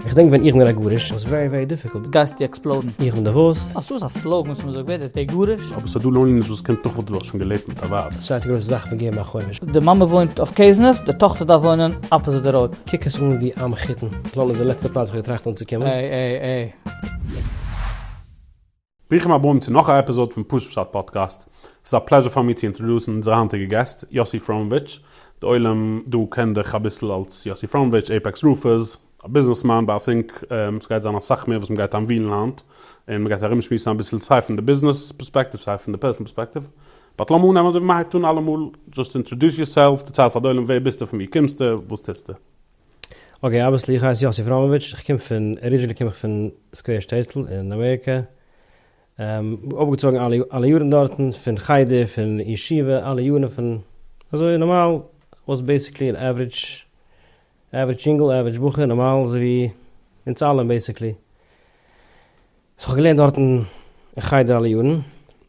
איך דענק ווען איך בין א גרוש וואס ווערי ווערי דיפיקולט גייסטו עקספלאודן איך בין דערוואוסט אז דאס איז א סלאגן וואס מ'זאגט ווער דאס דער גרוש? אבער ס'איז דא לאנלי'נעס וואס קען תוך כדי דאך שוין געלעבט מיט א ווייב. ס'איז א צווייטע גרויסע זאך פון געבן א חומש. די מאמע וואוינט אויף קעזנעף, די טאכטער דארף וואוינען אפאזיט די ראוד. קוק עס אן ווי א מחותן. פלאן איז די לעצטע פלאץ וואס איך האב געטראכט אנצוקומען. עי עי עי. ברוכים הבאים צו נאך א עפיזאד פון פשוט פשט פאדקעסט. ס'איז א פלעזשער פאר מיר צו אינטראדוסן אונזערע היינטיגע געסט, יאסי פראמאוויטש. די עולם דא קען דיך אביסל אלס יאסי פראמאוויטש, עיפעקס רופערס, א ביזנעסמאן, באט איי טינק ס'גייט זיין אסאך מער וואס מ'גייט אנווילן היינט, און מ'גייט ארומשמועסן אביסל סיי פון די ביזנעס פערספעקטיוו סיי פון די פערסאנעל פערספעקטיוו. באט לאמיר אנהייבן אזוי ווי מ'הייבט אן אלעמאל, דזשאסט אינטראדוס יורסעלף, דערצייל פאר די עולם ווער ביסטו, פון וואו קומסטו, וואס טוסטו. אקעי אבוויעסלי איך הייס יאסי פראמאוויטש איך קום פון ארידזשינעלי קום איך פון סקווער שטעטל אין אמעריקע אויפגעצויגן אלע אלע יארן דארטן פון חדר פון ישיבה אלע יארן פון אזוי נארמאל וואס בעסיקלי אן עוורידזש עוורידזש יונגל עוורידזש בחור נארמאל אזוי ווי אונז אלע בעסיקלי סאו כ'האב געלערנט דארטן אין חדר אלע יארן.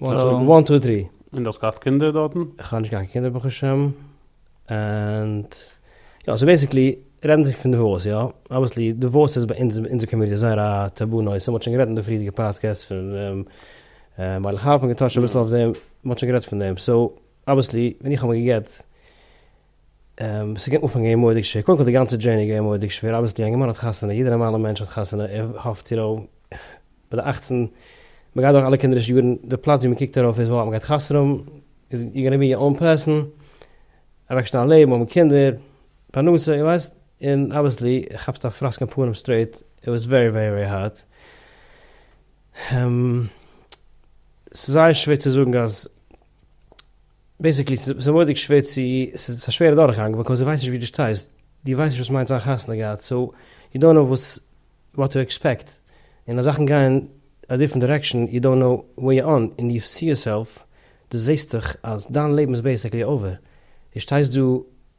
וואן טו טרי. און דו האסט געהאט קינדער דארטן? איך האב נישט געהאט קיין קינדער ברוך השם, ענד יא סאו בעסיקלי רעדן זיך פון דיווארס יא, אבוויעסלי דיווארס איז ביי אונז אונזער קאמיוניטי זייער א טאבו נושא, מ'האט שוין גערעדט אין די פריערדיגע פאדקעסט פון דעם, מיילעך האלב און געטאטשט אביסל אויף דעם, מ'האט שוין גערעדט פון דעם, סאו אבוויעסלי ווען איך האב מיך געגעט. ס'גייט אנפאנגען געווען מורא'דיג שווער, קודם כל די גאנצע דזשערני געווען מורא'דיג שווער, אבי ס'דא א יונגערמאן האט חתונה, יעדע נארמאלע מענטש האט חתונה, ער האפט צו רוב ביי די אכצן, מ'גייט דורך אלע קינדערישע יארן, די פלאץ ווי מ'קוקט ארויף איז וואו אז מ'גייט חתונה האבן, איז יו גאנא בי א אן פערסאן, אוועקשטעלן א לעבן, האבן קינדער, פרנסה, איר ווייסט, און אבוויעסלי כאפסטו א פראסק אין פנים סטרעיט, איט וואס ווערי ווערי ווערי הארד, ס'איז זייער שווער צו זאגן אז. בעסיקלי ס'איז מורא'דיג שווער צו, ס'איז א שווערע דורכגאנג בייקאוז דו ווייסט נישט ווי דו שטייסט, דו ווייסט נישט וואס מיינט זיין חתונה געהאט, סאו יו דאנט נאו וואס וואט טו עקספעקט, און אז זאכן גייען א דיפרענט דירעקשאן יו דאנט נאו ווער יו אן, און יו סי יורסעלף, דו זעסט דיך אז דיין לעבן איז בעסיקלי אווער, דו שטייסט דא,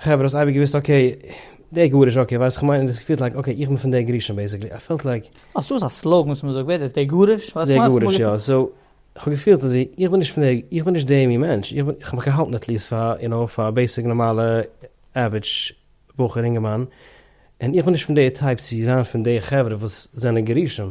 חברה האסט אייביג געוויסט אקעי דער גרוש אקעי ווייסט כמיין און דאס געפילט לייק אקעי איך בין פון דער גרשון בעיסיקלי איי פעלט לייק. אז דאס א סלאגן וואס מזאגט ווער דאס דער גרוש ווייסט כמיין דער גרוש יא סאו כהאב געפילט אזוי איך בין נישט פון דער איך בין נישט דער מין מענטש איך בין כ'האב מיך געהאלטן עטליעסט פאר יו נאו פאר א בעיסיק נארמאלע עווערידש בחור אינגערמאן און איך בין נישט פון דער טייפ צו זיין פון די חברה וואס זענען גרושים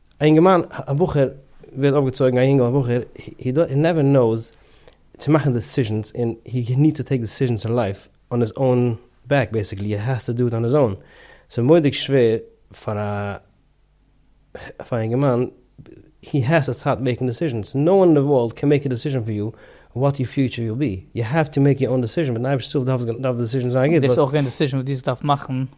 א יונגערמאן א בחור ווערט אויפגעצויגן א יונגל א בחור הי נעווער נאוס צו מאכן דעסישענס און הי ניד טו טעיק דעסישענס און לייף אן היז אוין בעק בעסיקלי הי העז טו דא איט אן היז אוין סאיז מוראדיג שווער פאר א פאר א יונגערמאן הי העז טו סטארט מעיקן דעסישענס נאו וואן און די ווארלד קען מעיק א דעסישען פאר יו וואט יור פיוטשער וויל בי יו העוו טו מעיק יור אוין דעסישען מיטן אייבישטער הילף דארף די דעסישען זיין גוט. דאס איז אויך געווען די דעסישען וואס דו האסט געדארפט מאכן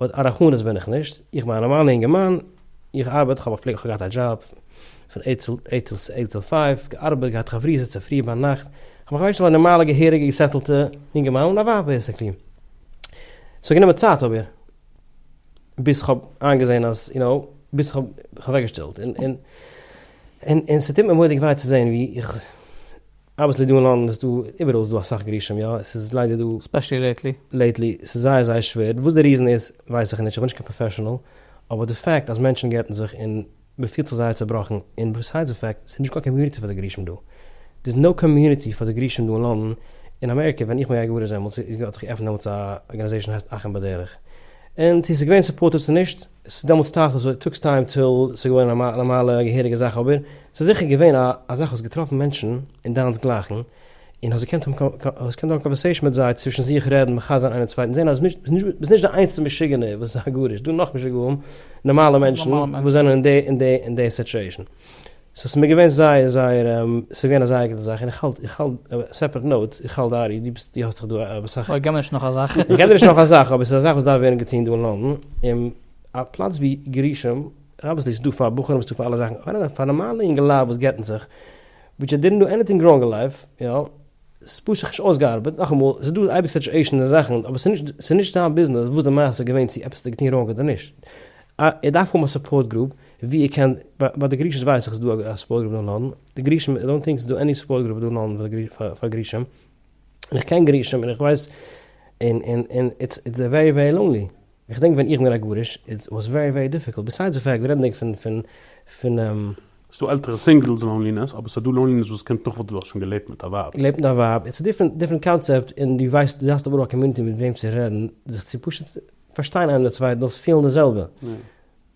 באט א רחמנות בין איך נישט, איך בין א נארמאלע אינגערמאן, איך ארבעט, איך האב א פלעג, איך האב געהאט א דזשאב פון עיט טו עיט טו עיט טו פייוו, געארבעט, געהאט חברותות צופרי ביינאכט, איך בין כ'ווייס נישט ווי א נארמאלע געהעריגע געסעטלטע אינגערמאן און א ווייב בעסיקלי, ס'האט גענומען צייט אבער ביז כ'האב איינגעזען אז יו נאו, ביז כ'האב זיך אוועקגעשטעלט, און און און און ס'טוט מיר מורא'דיג וויי צו זען ווי איך אביסל דא אין לאנדן איז דא, איבעראל איז דא אסאך גרושים יא, עס איז ליידער דא, ספעשעלי לעיטלי, לעיטלי עס איז זייער זייער שווער, וואס די ריזען איז ווייס איך נישט, איך בין נישט קיין פראפעשענעל, אבער די פעקט אז מענטשן גט'ן זיך און מען פילט זיך זייער צובראכן, און ביסיידס די פעקט ס'איז נישט קיין קאמיוניטי פאר די גרושים דא, דער איז נאו קאמיוניטי פאר די גרושים דא אין לאנדן, אין אמעריקע ווען איך בין געווען גרוש דעמאלטס איז האט זיך געעפענט דעמאלטס א ארגאניזעישן הייסט אחים בדרך, און צו עס איז געווען סופארטעד צו נישט, עס איז דעמאלטס טייך אזוי טאגס טיים טיל ס'איז געווארן א נארמאלע געהעריגע זאך אבער ס'איז זיכער געווען א א זאך האסט געטראפן מענטשן און דיינס גלייכן און האסט געקענט האבן האסט געקענט האבן קאנווערסעישן מיט זיי צווישן זיך רעדן מחזק זיין איינער צווייטן זען אז ביזט נישט די איינציגסטע משוגענער וואס איז א גרוש דא נאך משוגעים נארמאלע מענטשן וואס זענען אין די אין די אין די סיטשועישן. סאו ס'איז מיר געווען זייער זייער ס'איז געווען א זייער גוטע זאך, און כ'האלט איך האלט סעפערעט נאוט, איך האלט דייערי, דו ביסט דו האסט דאך דא אסאך. אוי געב מיר נישט נאך א זאך. איך געב דיר נישט נאך א זאך, אבער ס'איז א זאך וואס דארף ווערן געטון דא אין לאנדאן, און א פלאץ ווי גרישום רבתי ס'איז דא פאר בחורים וואס טוט פאר אלע זאכן, אבער א פאר נארמאלע יונגעלייט וואס גט'ן זיך, וויטש זיי דידנט דא עניטינג ראנג אין לייף, יא, ס'איז פשוט זיך נישט אויסגעארבעט, נאכאמאל, ס'איז דא אייביג סיטשועישאנס און זאכן, אבער ס'איז נישט דיין ביזנעס וואס די מעשה איז געווען צו עפעס האסטו געטון ראנג אדער נישט, איר דארף האבן א סופארט גרופ, ווי איר קענט, ביי די גרישעס ווייס איך איז דא א סופפארט גרופ דא אין לאנדאן, די גרישען איי דאנט טינק ס'איז דא עני סופפארט גרופ דא אין לאנדאן פאר גרישען, און איך קען גרישען און איך ווייס און און און איטס איטס ווערי ווערי לאנלי, איך דענק ווען איך בין א גרוש איטס וואס ווערי ווערי דיפיקולט, ביסיידס די פעקט רעדנדיג פון פון פון. ס'דא עלטערע סינגלס לאנלינעס, אבער ס'דא לאנלינעס וואס קומט נאך וואס דו האסט שוין געלעבט מיט א ווייב. געלעבט מיט א ווייב, איטס א דיפרענט דיפרענט קאנצעפט, און דו ווייסט דו האסט אבער א קאמיוניטי מיט וועם צו רעדן, זיך צו פשוט פארשטיין איינער די צווייטן, דאס פילן די זעלבע.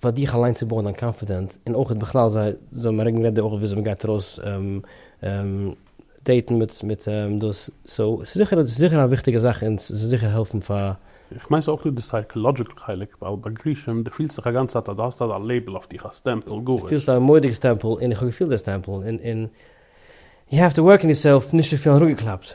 פאר דיך אליין צו בויען דיין קאנפידענס, און אויך בכלל זיי זאלן ארענגן רעדע אויך וויאזוי מ'גייט ארויס דעיטן מיט דאס, סאו ס'איז זיכער ס'איז זיכער א וויכטיגע זאך און ס'זאל זיכער העלפן פאר. איך מיין ס'איז אויך דא די סייקאלאדזשיקל חלק, ווייל ביי גרושים דו פילסט זיך א גאנצע צייט אז דו האסט אזא לעיבל אויף דיך, א סטעמפל, גרוש. פילסט א מורא'דיגע סטעמפל און איך האב געפילט די סטעמפל און און יו העוו טו ווארק אן יורסעלף נישט צו פילן אראפגעקלאפט.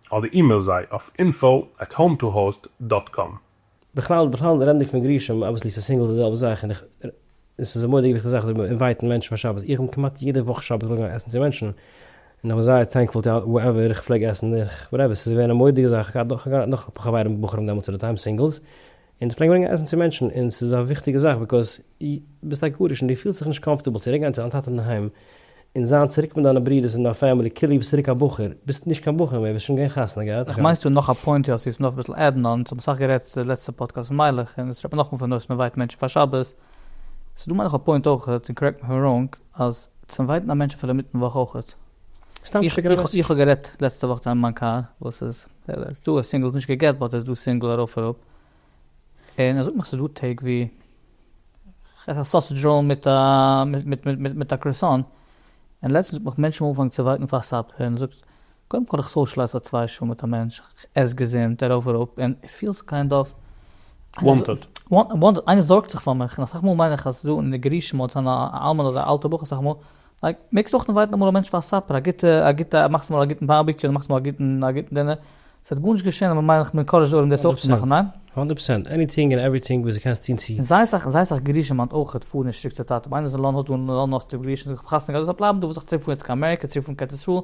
אדער אימעיל זיי אויף אינפאו עט האום טו האוסט דאט קאם. בכלל בכלל רעדנדיג פון גרושים אבוויסלי ס'איז סינגלס די זעלבע זאך און עס איז א מורא'דיגע גוטע זאך אזוי אינווייטן מענטשן פאר שבת איך בין כמעט יעדע וואך שבת ארויף געגאנגען עסן צו מענטשן און איך בין זייער טענקפול טו ווער עווער איך פלעג עסן איך וואטעווער ס'איז געווען א מורא'דיגע זאך איך האב געהאט נאך אפאר חברים בחורים דעמאלטס עט די טיים סינגלס און די פלעגן ברענגען עסן צו מענטשן און ס'איז א וויכטיגע זאך ביקאוז ביסט א גרוש און די פילסט זיך נישט קאמפארטעבל צוריק גיין צו דיין טאטע אין היים און זיין צוריק מיט דיינע ברידערס און דיין פעמילי כאילו ביסט צוריק א בחור ביסט נישט קיין בחור מער ביסט שוין געווען חתונה געהאט איך מיין ס'דא נאך א פוינט יא ס'איז נאך אביסל עדד אן ס'האמיר סאך גערעדט די לעצטע פאדקעסט פון מיילעך און עס רעדט מען נאכמאל פון נושא מ'ווייט מענטשן פאר שבת ס'דא מיינעך א פוינט אויכעט און קארעקט מי איף איים ראנג אז צו ווייטן א מענטש אפילו אינמיטן וואך אויכעט. איך האב גערעדט לעצטע וואך צו איינעם מיין קאר וואס איז איז דא א סינגל נישט געגעט באט איז דא סינגל ארויף אראפ און ער זאגט מיך ס'איז דא טעג ווי עס א סאסעדזש ראול מיט א מיט מיט מיט א קראסאן און לעצטנס האט מיך מענטשן אנגעפאנגען צו ווארטן פאר סאפער און ער זאגט קודם כל איך סאושעלייז פאר צוויי שעה מיט א מענטש כ'עס געזונט ארויף אראפ און איך פיל זיך קיינד אוו וואנטעד וואנטעד איינער זארגט זיך פאר מיך און אסאך מאל מיין איך אז דא אין די גרושים אדער א אלמן אדער א אלטע בחור אסאך מאל לייק, מעגסט אויך אינווייטן אמאל א מענטש פאר א סאפער, א גוטע, א גוטע, מאכסט אמאל א גוטן בארביקיו, אדער מאכסט אמאל א גוטן, א גוטן דינער, ס'וועט גארנישט געשען, אבער מיין איך מ'ענקארעדזשט די עולם דאס אויך צו מאכן, ניין? הונדערט פראצענט, עניטינג און עווריטינג וואס דו קענסט טון צו. און זייער אסאך, זייער אסאך גרושים מיינט אויך אויך פארן נישט צוריק צו די טאטע, ווען איינער איז אין לאנדאן, האסטו גרושים, האסטו געהאט חתונה געהאט, זאל ער בלייבן דא, וואס זאגסטו צוריק פארן יעצט קיין אמעריקע, צוריק פארן קעטיסוואל,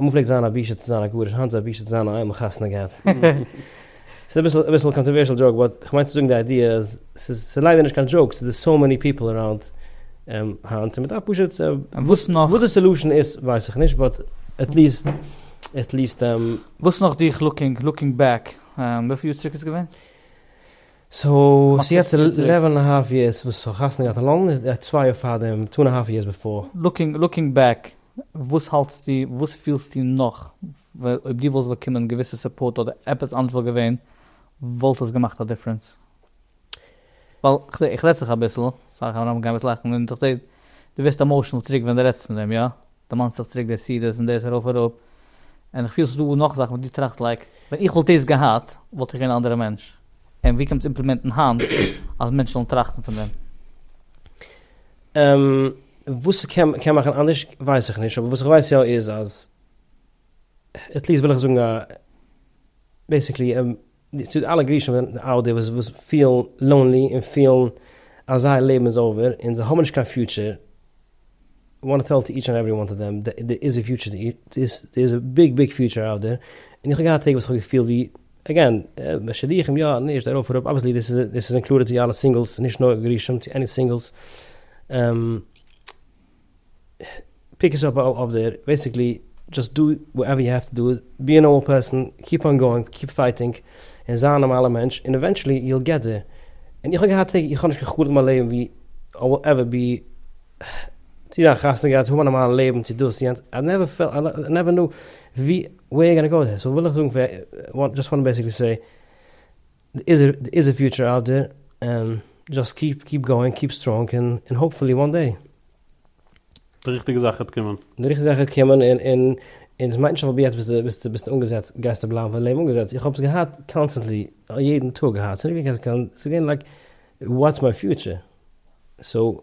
אמאל פלעגט זיין א בושה צו זיין א גרוש, היינט איז א בושה צו זיין א איידל און חתונה געהאט. ס'איז אביסל א קאנטערווערשעל דזשאוק באט כ'מיין צו זאגן די איידיע אז ס'איז ליידער נישט קיין דזשאוק ס'איז דא סאו מעני פיפל אראונד היינט און מ'דארף פשוט וואס נאך? וואס די סעלושען איז ווייס איך נישט באט עטליסט עטליסט. וואס נאך דיך לוקינג לוקינג בעק וויפיל יאר צוריק איז געווען? סאו ס'יעצט עלעווען א האלף יערס וואס כ'האב חתונה געהאט אלאנג איז די צוויי יאר פארדעם, טו ענד א האלף יערס בעפאר. לוקינג לוקינג בעק, וואס האלטסטו, וואס פילסטו נאך, אויב דו וואלסט באקומען געוויסע סופארט אדער עפעס אנדערש וואלט געווען, וואלט עס געמאכט א דיפרענס? ווייל כ'זע, איך רעד צו דיך אביסל, סארי כ'האב אנגעהויבן געבן אביסל לאכן, און כ'זע דו ווערסט עמאושענעל צוריק ווען דו רעדסט פון דעם, יא? דערמאנסט זיך צוריק די סידיס און דאס ארויף אראפ, און איך פיל ס'איז דא נאך זאכן וואס דו טראכסט לייק ווען איך וואלט דאס געהאט וואלט איך געווען א אנדערע מענטש, און ווי קען מען עס אימפלימענטן היינט אז מענטשן זאלן טראכטן פון דעם? וואס ס'קען קען מאכן אנדערש ווייס איך נישט, אבער וואס איך ווייס יא איז אז עטליעסט וויל איך זאגן א בעסיקלי. צו די אלע גרושים פון די אאודי וואס פילן לאונלי און פילן אז זייער לעבן איז אווער און זיי האבן נישט קיין פיוטשער, איי וואנט טו טעל טו איטש ענד עווערי וואן טו דעם, דער איז א פיוטשער, דער איז א ביג ביג פיוטשער אאוט דער, און איך האב געהאט טעג וואס איך האב געפילט ווי, עגעין, א שידוכים יא, נישט, ארויף אראפ, אבוויעסלי דאס איז אינקלודעד צו אלע סינגלס, נישט נאר גרושים, צו עני סינגלס. פיק עס אפ אויף דער, בעסיקלי דזשאסט דא וואטעווער יו העוו טו דא, בי א נארמאל פערסאן, קיפ אן גאוינג, קיפ פייטינג, און זיי א נארמאלער מענטש, און עווענטשעלי יו וויל געט דער, און איך האב געהאט טעג איך האב נישט קיין חלום אין מיין לעבן ווי אויב וואלט עווער בי צו זיין חתונה געהאט צו האבן א נארמאלע לעבן צו דאס יענץ איי נעווער פעלט איי נעווער נאו ווי וועיר יו גאנא גאו וויט דעס, סאו וויל איך זאגן, וואט דזשאסט וואנט בעסיקלי סעי. איז א פיוטשער אוט דער, דזשאסט קיפ קיפ גאוינג קיפ סטראנג און האופפולי וואן דעי. די ריכטיגע זאך העט קומען. די ריכטיגע זאך העט קומען און און און דאס מיינט נישט אז אויב יעצט ביסטו ביסטו ביסטו אנגעזעצט גייסטו בלייבן פאר די לעבן אנגעזעצט, איך האב עס געהאט קאנסטענטלי יעדן טאג געהאט, ס'איז נישט געווען קיין ס'איז געווען לייק וואטס מיי פיוטשער סאו.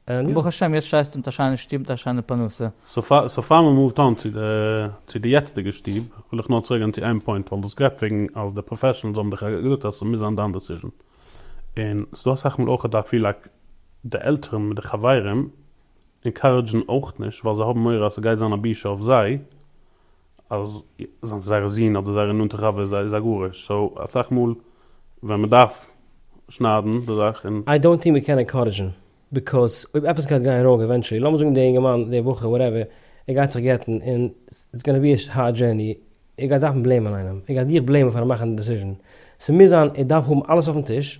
ברוך השם יעצט שטייסטו מיט א שיינע שטוב מיט א שיינע פרנסה. סאו פאר מען מאווט אן צו די יעצטיגע שטוב, וויל איך נאר צוריק גיין צו איין פוינט, ווייל דו האסט גערעדט וועגן אז די פראפעשענעלס האבן דיך געזאגט אז ס'מוז זיין דיין דעסיזשען, און ס'איז דא אסאך מאל אויך דיי פיל לייק די עלטערן מיט די חברים ענקארעדזשן אויך נישט ווייל זיי האבן מורא אז ס'גייט זיין א בושה אויף זיי, אז זייער זון אדער זייער נאנטע חבר איז א גרוש, סאו אסאך מאל ווען מען דארף שניידן די זאך און. איי דאונט טינק מען קען ענקארעדזשן, ביקאוז אויב עפעס גייט גיין ראנג עווענטשעלי, לאמיר זאגן די אינגערמאן, די בחור, וואטעווער, ער גייט זיך גט'ן און איטס גאנע בי א הארד דזשערני, ער גייט דארפן בלעימען איינעם, ער גייט דיך בלעימען פארן מאכן די דעסיזשן, ס'מוז זיין ער דארף האבן אלעס אויפן טיש,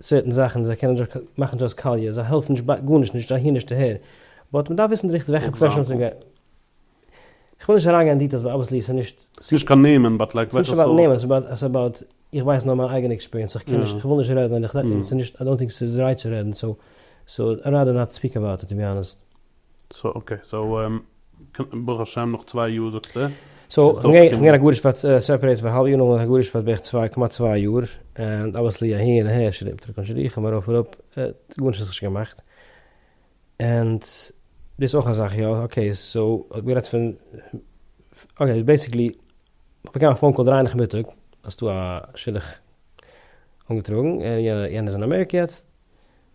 סערטען זאכן זיי קענען דזשאסט מאכן דזשאסט קאליע זיי העלפן נישט ביי גארנישט נישט אהין נישט אהער באט מען דארף וויסן די ריכטיגע וועלכע פראפעשענעל ס'גייט איך וויל נישט אריין גיין אין דיטעילס ווייל אבוויעסלי ס'איז נישט נישט קיין נעמען באט לייק וועלכע סארט ס'נישט אבאוט נעמען ס'איז אבאוט איך ווייס נאר מיין אייגענע עקספיריענס איך קען נישט איך וויל נישט רעדן און איך דענק ס'איז נישט איי דאנט טינק ס'איז רייט צו רעדן סאו סאו ראדער נאט ספיק אבאוט איט טו בי האנעסט. סאו אקעי סאו ברוך השם נאך צוויי יאר זאגסטו סאו כ'גיין הגרש פאר סעפערעיט פאר האלב יאר נאכדעם הגרש פאר בערך צוויי כמעט צוויי יאר ענד אבעסלי אהין און אהער שרימפ טריקן שדוכים ארויף אראפ גארנישט האט זיך נישט געמאכט ענד דאס אויך א זאך יא אקעי סאו האט גערעדט פון אקעי בעסיקלי כ'האב באקומען א פאון קאל דרײַ נאכמיטאג אז ס'דא א שידוך אנגעטראגן און יענער איז אין אמעריקע יעצט.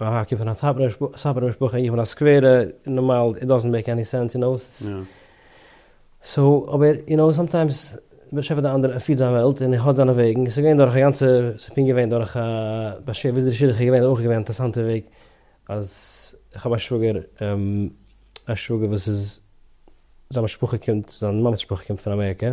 א הק' פון א סאטמארע משפחה איך בין א סקווערע נארמאל איט דאזענט מעיק עני סענס יו נאו סאו אבער יו נאו סאמטיימס דער באשעפער די אנדערע ער פירט זיין וועלט און ער האט זיינע וועגן און ס'איז געווען דורך א גאנצע ס'איז פונקט געווען דורך א באשערט וויאזוי די שידוך איז געווען איז אויך געווען אינטערעסאנטע וועג אז איך האב א שוואגער א שוואגער וואס איז זיין משפחה קומט זיין מאמעס משפחה קומט פון אמעריקא.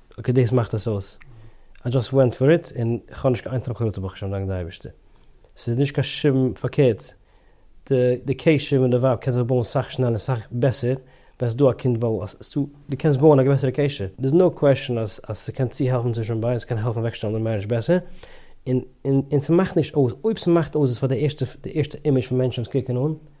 אקעי דאס מאכט עס אויס, איי דזשאסט ווענט פאר איט און כ'האב נישט קיין איין טראפ חרטה ברוך השם דאנק די אייבערשטער, ס'איז נישט קיין שום פארקערט, די די קשר מיט די ווייב קען זיך בויען סאך שנעלער און סאך בעסער ווען ס'איז דא א קינד ווייל אז ס'איז דא דו קענסט בויען א גרעסערע קשר, דער'ס נאו קוועשאן אז אז ס'קען צו העלפן צווישן די ביידע, ס'קען העלפן אוועקשטעלן די מערידזש בעסער, און און און ס'מאכט נישט אויס אויב ס'מאכט אויס איז פאר די ערשטע די ערשטע אימעזש פון מענטשן וואס קוקן אן.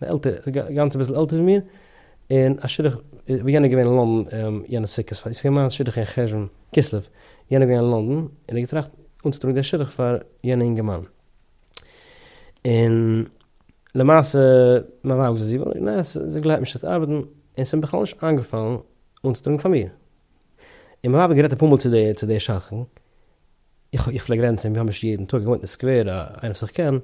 א עלטערע, גאנץ אביסל עלטער ווי מיר, און א שידוך, ווי יענער איז געווען אין לונדון יענע סוכות, פאר איסר מיין שידוך אין חשוון, כסלו, יענער געווען אין לונדון, און ער האט געטראכט אנצוטראגן די שידוך פאר יענע אינגערמאן, און למעשה מיין ווייב האט געזאגט זי וויל נישט, נעה, זי גלייבט נישט ס'וועט ארבעטן, און ס'איז מיר בכלל נישט איינגעפאלן אנצוטראגן פאר מיר, און מיין ווייב האט גערעדט אפאר מאל צו די שדכן, איך איך פלעג רעדן צו אים ווי האמער ש יעדן טאג, ער וואוינט אין סקווער, איינער וואס איך קען,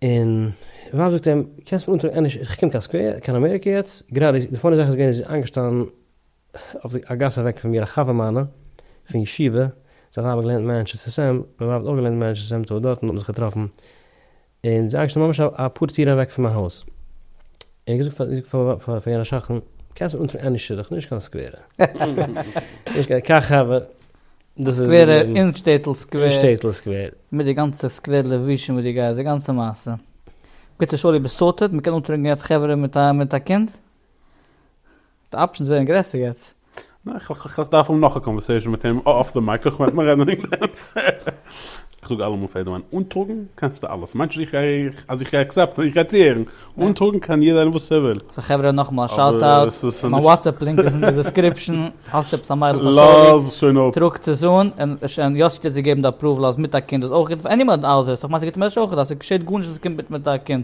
און ווייב זאגט אים, קענסט מיר אנטראגן ענדערש, איך קום קיין סקווער, קיין אמעריקע יעצט, גראדע איז, די פאני זאך איז געווען איז איינגעשטאנען אויף א גאס אוועק פון מיר א חבר מיינע פון ישיבה, זיין ווייב האט געלערנט אין מאנטשעסטער סעם, מיין ווייב האט אויך געלערנט אין מאנטשעסטער סעם, טא דארטן האט מען זיך געטראפן, און זיי שטייען ממש אפאר טירן אוועק פון מיין הויז, און איך זאג פאר פאר יענע שכן, קענסט מיר אנטפערן עני שדוך, נישט קיין סקווערע, נישט קיין קאכאווע, דאס איז, סקווערע אין שטעטל סקווער, אין שטעטל סקווער, מיט די גאנצע סקווער לבושים וואס דו גייסט, די גאנצע מעשה, בקיצור שולי ביסטארטעד, מען קען אנטרינקען יעצט חברה מיט א קינד? די אפשענס ווערן גרעסער יעצט. איך דארף האבן נאך א קאנווערסעישאן מיט אים אףף די מייק איך מיין מיר רעדן וועגן דעם. איך זאג אלעמאל פאר יעדעמען אנטראגן קענסטו אלעס מיינסט נישט אז איך גיי עקסעפטן איך גיי צוהערן אנטראגן קען יעדער ענדערש וואס ער וויל. סא חברה נאכמאל א שאוט אוט מיין וואטסעפפ לינק איז אין די דיסקריפשאן האסט עפעס א מיידל פאר סאלי טראגטס עס אן און יוסי טוט זי געבן די אפראוועל אז מיט א קינד איז אויך גוט פאר ענימעל און אלזעס איך מיין סגעבט אים עס אויך אז סגעשעט גארנישט אז סקומט מיט מיט א קינד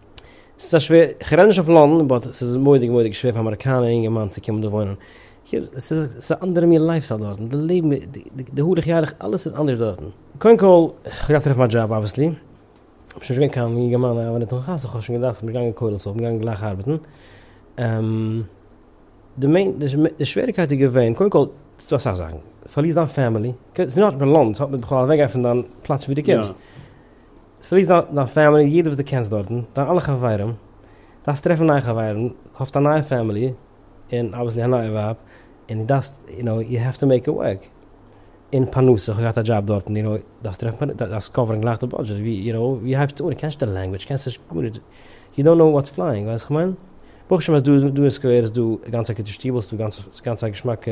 ס'איז א שווער, כ'רעד נישט אויף לאנדן, באט ס'איז מורא'דיג מורא'דיג שווער פאר א אמעריקאנער אינגערמאן צו קומען דא וואוינען. ס'איז א אנדערע מין לייף סטייל דארטן, די לעבן, די הלוך ילך, אלעס איז אנדערש דארטן. קודם כל, כ'האב געהאט טרעפן א דזשאב אבוויעסלי, כ'בין שוין נישט געווען קיין אינגערמאן, אבער נאכן חתונה האב איך שוין געדארפט, כ'בין נישט געגאנגען כולל, סאו כ'בין געגאנגען גלייך ארבעטן. די מעין, די שוועריקייט איז געווען, קודם כל, ס'דא אסאך זאכן, פארלירסט דיין פעמילי, ס'איז נישט נאר די לאנד, ס'האט מיט בכלל אוועקגיין פון דיין פלאץ ווי דו קומסט. פליז דארטן דיין פעמילי יעדער וואס דו קענסט דארטן דיין אלע חברים דארפסט טרעפן נייע חברים האסט א נייע פעמילי און אבוויסלי א נייע ווייב און דו דארפסט יו נאו יו העוו טו מעיק איט ווארק און פרנסה איך האב געהאט א דזשאב דארטן יו נאו דארפסט טרעפן פרנסה דארפסט קאווערן גלייך די בודזשעט ווי יו נאו ווי הייבסטו אן דו קענסט נישט די לענגוויטש קענסט נישט גארנישט יו דאנט נאו וואטס פלייאינג ווייסט וואס איך מיין ברוך השם אז דא דא אין סקווער איז דא גאנץ א גוטע שטיבל ס'איז גאנץ א געשמאקע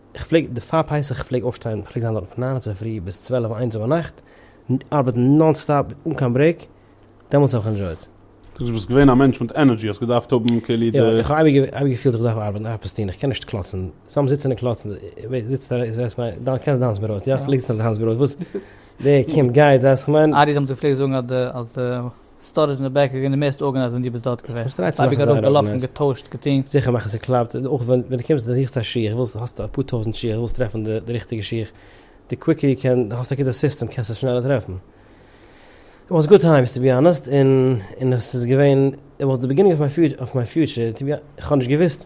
איך פלעג די פאר פסח איך פלעג אויפשטיין פלעג זיין דארט פון ניין אצופרי ביז צוועלף איינס אויבערנאכט ארבעטן נאן סטאפ אן קיין ברעיק דעמאלטס האב איך ענדשויט. דו ביסט געווען א מענטש מיט ענערדזשי האסט געדארפט האבן כאילו די. יא איך האב אייביג געפילט איך דארף ארבעטן עפעס טון איך קען נישט קלאצן סתם זיצן און קלאצן זיצט און זעסט מיין דיין קענסט דיינס ברויט יא איך ליג זיך דיינס ברויט וואס דער קומט גייט ווייסט איך מיין. ארי האט אמאל געפלעגט זאגן אז די אז די. סטארעדזש אין די בעק געגענט די מערסטע ארגענייזט ווען דו ביסט דארט געווען. איך האב אייביג ארויף געלאפן געטוישט געטון. זיכער מאכן ס'קלאפט, און אויך ווען דו קומסט זוכסט א שיך ווילסט האסט אפאר טויזענט שיך ווילסט טרעפן די ריכטיגע שיך די קוויקער יו קען האסט א גוטע סיסטעם קענסט עס שנעלער טרעפן. איט וואס גוד טיימס טו בי אנעסט און און עס איז געווען איט וואס די ביגינינג אויף מיין פיוטשער טו בי איך האב נישט געוויסט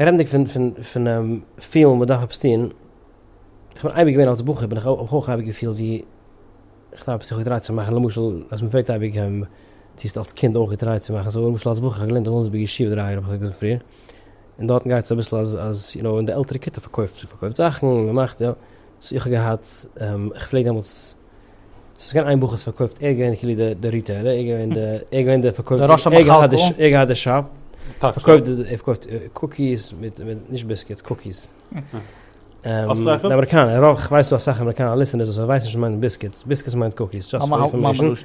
רעדנדיג פון פון פון פילן מען דארף עפעס טון, איך בין אייביג געווען אלס בחור בין איך אויך אייביג געפילט ווי איך דארף עפעס געטרייט צו מאכן, למשל אז מען פרעגט אייביג צו האסט אלס קינד אויך געטרייט צו מאכן, אזוי למשל אלס בחור איך האב געלערנט אין וומסבג ישיבה דרײַ יאר האב איך געזאגט פריער, און דארטן גייט עס אביסל אז אז יו נאו אין די עלטערע כיתה פארקויפט פארקויפט זאכן מען מאכט יא, סאו איך האב געהאט איך פלעג דעמאלטס. ס'איז געווען איין בחור ס'פארקויפט ער געווען כאילו די די ריטעילער ער געווען די ער געווען די פארקויפט די ראש המחלקה ער געהאט די שאפ פארקויפט די ער פארקויפט קוקיס מיט מיט נישט ביסקיטס קוקיס אמעריקאנע רוב כ'ווייס דא אסאך אמעריקאנע ליסטענערס וואס ווייסן נישט וואס מיינט ביסקיטס ביסקיטס מיינט קוקיס דזשאסט פאר אינפארמעישן.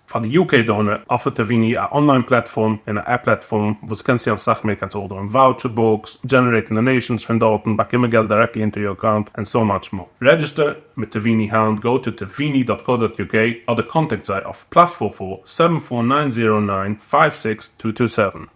פאר די UK דאונער אפערט טעוויני א אנליין פלאטפארם און א עפפ פלאטפארם וואס דו קענסט טוען אסאך מער קענסט ארדערן וואוטשער בוקס, דזשענערעיטן דאנעישאנס פון דארטן, באקומען געלט דירעקטלי אונטער יור אקאונט, און סאו מאטש מאר. רעדזשיסטער מיט טעוויני היינט גאו טו טעוויני דאט קאו דאט יו קעי אדער קאנטעקט זיי אויף פלאס פאר פאר, סעווען פאר ניין זירא ניין, פייוו סיקס טו טו סעווען.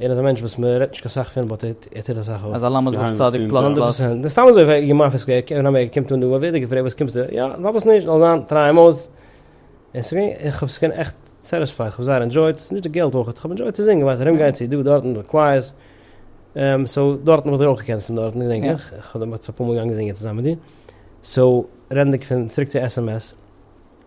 ער איז א מענטש וואס מען רעדט נישט קיין סאך פון באט ער טוט אסאך אויף. אז הלמד וואס צדיק פלאס פלאס. הונדערט פראצענט. סתם אזוי פאר געמאפעס קען מען האבן ער קומט אן דא ווערט ער געפרעגט וואס קומסטו יא פארוואס נישט זאל זיין טריי אים אויס און ס'איז געווען איך האב עס געווען עכט סעטיספייד כ'האב זייער ענדזשויט ס'איז נישט די געלט אויכעט כ'האב ענדזשויט צו זינגען ווייסט ארום גיין צו דא דארט אין די קווייערס סאו דארטן וואלט איך אויך געקענט פון דארטן געדענק איך איך האב דעמאלטס אפאר מאל געגאנגען זינגען צוזאם מיט דיר סאו רעדנדיג פון צוריק צו עס עם עס.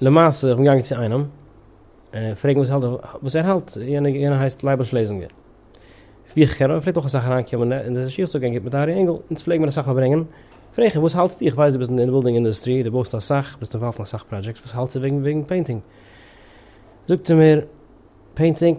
למעשה איך בין געגאנגען צו איינעם פרעגן וואס האלט וואס ער האלט יענער הייסט לייבל שלעזינגער ווי איך קען אים ער פלעגט אויך אסאך אריינקומען אין די שיך צו גיין גוט מיט ארי אינגל אונז פלעגן מיר אסאך פארברענגען פרעג איך אים וואס האלטסטו איך ווייס דו ביסט אין די בילדינג אינדוסטרי דו בויסט אסאך ביסט אינוואלווד אין אסאך פראדזשעקטס וואס האלטסטו וועגן וועגן פעינטינג זאגט ער מיר פעינטינג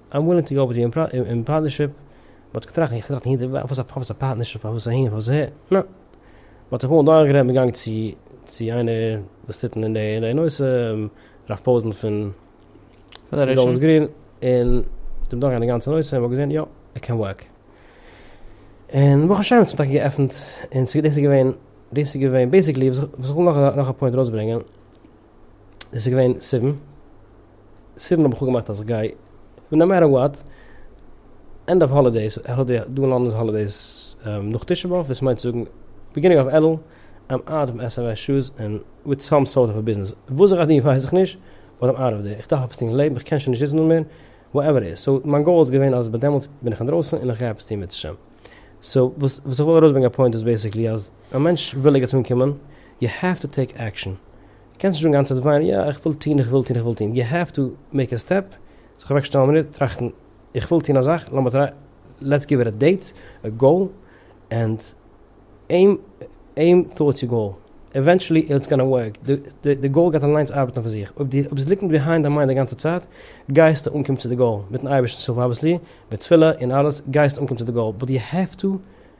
איים ווילינג טו גאו וויט יו אין פארטנערשיפ, באט כ'טראכט און כ'טראכט און הנה די וואך, פארוואס א פארטנערשיפ, פארוואס אהין, פארוואס אהער, נא. באט כ'בין אמאל דורכגערעדט מיט גאנג צו צו איינער וואס טוט אין די אין די נושא, הרב פאוזען פון גאלדענס גרין, און מיט אים דורכגערעדט די גאנצע נושא, און מ'האט געזען יא, ער קען ווארק. און ברוך השם ס'האט טאקע געעפנט, און דאס איז געווען, דאס איז געווען בעיסיקלי וואס איך וויל נאך נאך א פוינט ארויסברענגען, עס איז געווען זיבן, זיבן האב איך אפגעמאכט אז איך גיי, נאו מעטער וואט, ענד אוו האלידעיס, דא אין לאנדאן איז האלידעיס נאך תשעה באב, דאס מיינט צו זאגן ביגינינג אוו אלול, איים אוט אוו עס ענד עס שוז און וויט סאם סארט אוו א ביזנעס, וואס איך גיי טון ווייס איך נישט, באט איים אוט אוו דער, איך דארף עפעס טון אין לעבן, איך קען שוין נישט זיצן דא מער, וואטעווער איט איז, סאו מיין גאול איז געווען אז ביי דעמאלטס בין איך אינדרויסן און איך גיי עפעס טון מיט השם. סאו וואס איך וויל ארויסברענגען א פוינט איז בעיסיקלי אז א מענטש וויל ערגעץ אנקומען, יו העוו טו טעיק עקשאן, קענסט נישט אנגיין צו די וויין, יא איך וויל טוהן איך וויל טוהן איך וויל טוהן, יו העוו טו מעיק א סטעפ, זיך אוועק שטעלן א מינוט, טראכטן, איך וויל טוהן א זאך, לאמיר טריי, לעטס גיוו איט א דעיט, א גאול, ענד עים, עים טארדס יור גאול, עווענטשעלי איטס גאנא ווארק, די גאול גייט אליינס ארבעטן אויף זיך, אויב דו ביסט לוקינג ביהיינד דיין מיינד די גאנצע צייט, גייסטו אנקומען צו די גאול, מיטן אייבערשטנ'ס הילף אבוויעסלי, מיט תפילה און אלעס, גייסטו אנקומען צו די גאול, באט יו העוו טו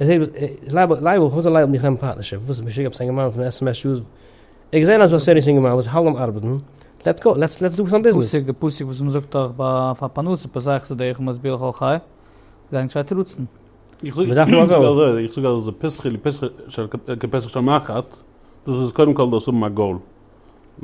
ער זעט וואס לייבל, לייבל, וואס איז לייבל מיך נעמען פארטנערשיפ, וואס איז משוגע עפעס אינגערמאן פון עס עם עס שאוס, ער האט געזען אז ס'איז א סעריעס אינגערמאן וואס האלט ביים ארבעטן, לעטס גאו, לעטס לעטס דא סאם ביזנעס. פאסיג, פאסיג וואס מען זאגט דאך ביי פאר פרנסה פסח איז דרך ומסביר לכל חי, זיי נישט זיי תירוצן. מען דארף נאר א גאול. איך זאג אז פסחי לפסחי כפסח של מחט, דאס איז קודם כל דאס האבן א גאול,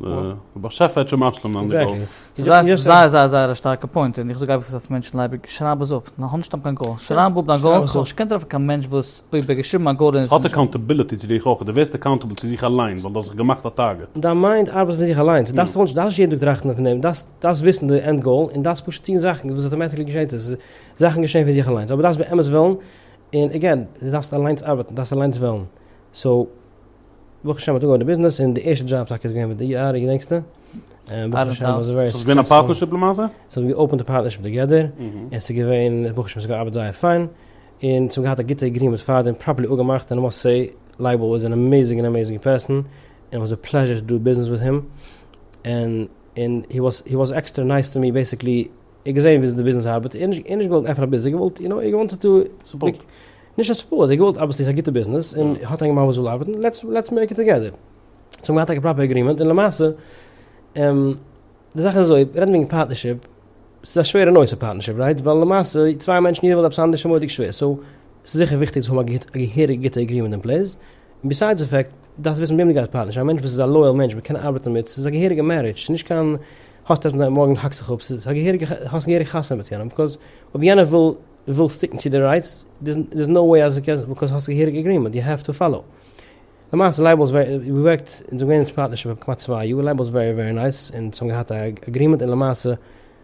דער באשעפער האט שוין משלים זיין די גאול. ס'איז זייער זייער זייער זייער א שטארקע פוינט, און איך זאג אייביג עפעס אויף מענטשן לייביג, שרייב עס אפ, האב נישט קיין גאול, שרייב אפ דיין גאול, זאלסט נישט קענען טרעפן קיין מענטש וואס אויב ער האט געשריבן א גאול און עס איז נישט. ס'האט עקאונטעביליטי צו דיך אויך, דו ווערסט עקאונטעבל צו זיך אליין, ווייל דו האסט זיך געמאכט א טארגעט. דיין מיינד ארבעט פון זיך אליינס, דו דארפסט נישט יעדן טאג טראכטן פון דעם, דו דארפסט וויסן די ענד גאול, און דארפסט פשוט טון זאכן, וואס אטאמעטיקלי געשעט עס, זאכן געשען פון זיך אליינס, אבער דו דארפסט באמת ווילן, און עגעין, דו דארפסט אליינס ארבעטן, דו דארפסט אליינס ווילן, סאו. ברוך השם האט אנגעהויבן די ביזנעס און די ערשטע דזשאב טאקע איז געווען מיט די ארי געדענקסטו? און ברוך השם איז ווערי סוקסעספול. ס'איז געווען א פארטנערשיפ למעשה? ס'האט מען געאופענט א פארטנערשיפ טוגעדער, און ס'איז געווען ברוך השם ס'האט געארבעט זייער פיין, און ס'האט געהאט א גוטע עגרימענט פאר דעם, פראפערלי אפגעמאכט, און למעשה לייבל איז אן אמעזינג און אמעזינג פערסאן, און איט וואס א פלעזשער טו דו ביזנעס וויט הים, און און הי וואס עקסטער נייס טו מי בעסיקלי, איך געזען וויאזוי די ביזנעס ארבעט און נישט און נישט געוואלט עפענען א ביזנעס געוואלט יו נאו איך געוואנטעד טו סופארט נישט א סופארט איך געוואלט אבוויסלי ס'איז א גוטע ביזנעס און האט איינגעמאכט וואס וויל ארבעטן לעטס לעטס מעיק איט טאגעדער זיי האבן געהאט טאקע פראפער עגרימענט און למעשה די זאך איז אזוי מיר רעדן וועגן פארטנערשיפ ס'איז א שווערע נושא פארטנערשיפ רייט ווייל למעשה צוויי מענטשן יעדער וויל עפעס אנדערש איז מורא'דיג שווער סאו ס'איז זיכער וויכטיג צו האבן א גוטע א געהעריגע גוטע עגרימענט אין פלעיס און ביסיידס די פעקט, דארפסט וויסן וועם דו גייסט פארטנערשן, א מענטש וואס איז א לויעל מענטש וואס קען ארבעטן מיט, ס'איז א געהעריגע מערידזש, ס'איז נישט קיין האסט עפעס מיט אים מארגן האקסט זיך אפ, ס'איז א געהעריגע, האסט געהעריג חתונה מיט יענעם, ביקאז אויב יענער וויל וויל סטיקן צו די רייטס, דער'ס נאו וועי אז דו קענסט ביקאז האסט א געהעריגע אגרימענט, יו העוו טו פאלאו. למעשה לייבל איז ווערי, ווי געווארקט, אונז האבן געווען אין פארטנערשיפ פאר כמעט צוויי יאר, לייבל איז ווערי ווערי נייס, אונז האבן געהאט א אגרימענט און למעשה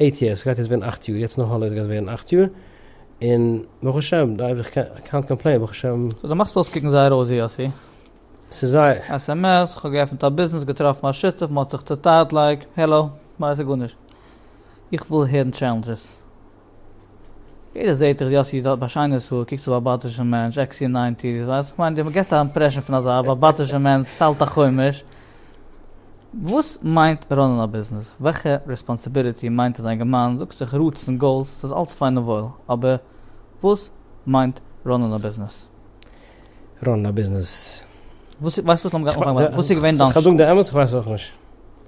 אייט יערס, סגייט יעצט ווערן אכט יאר, יעצט נאך האלידעיס גייט ווערן אכט יאר, און ברוך השם, קענט קאמפלעין ברוך השם. סאו דו מאכסט אויסקוקן זייער ראוזי א סי. ס'איז זייער. sms, כ'האב געעפנט א ביזנעס, געטראפן א שותף, מ'האט זיך צוטיילט לייק, העלא, כ'ווייס גארנישט, איך וויל הערן טשעלענדזשעס. יעדער זעהט דיך, יאסי איד האט א שיינער סאו קוקט אויס ראבאטישע מענטש, עקסי און ניינטיס, איך ווייס, כ'מיין די געסט א אימפרעשן פון אזא ראבאטישע מענטש טיילט א חומש, וואס מיינט ראנען א ביזנעס? וועלכע רעספאנסיביליטי מיינט עס זיין געמיין? זאגסט איך רוטס און גאולס ס'איז אלץ פיין און וואויל, אבער וואס מיינט ראנען א ביזנעס? ראנען א ביזנעס? וואס איז, ווייסט וואס לאמיר גיין אנפאנגען, וואס איז געווען דיין? כ'וועל זאגן די אמת, כ'ווייס אויך נישט.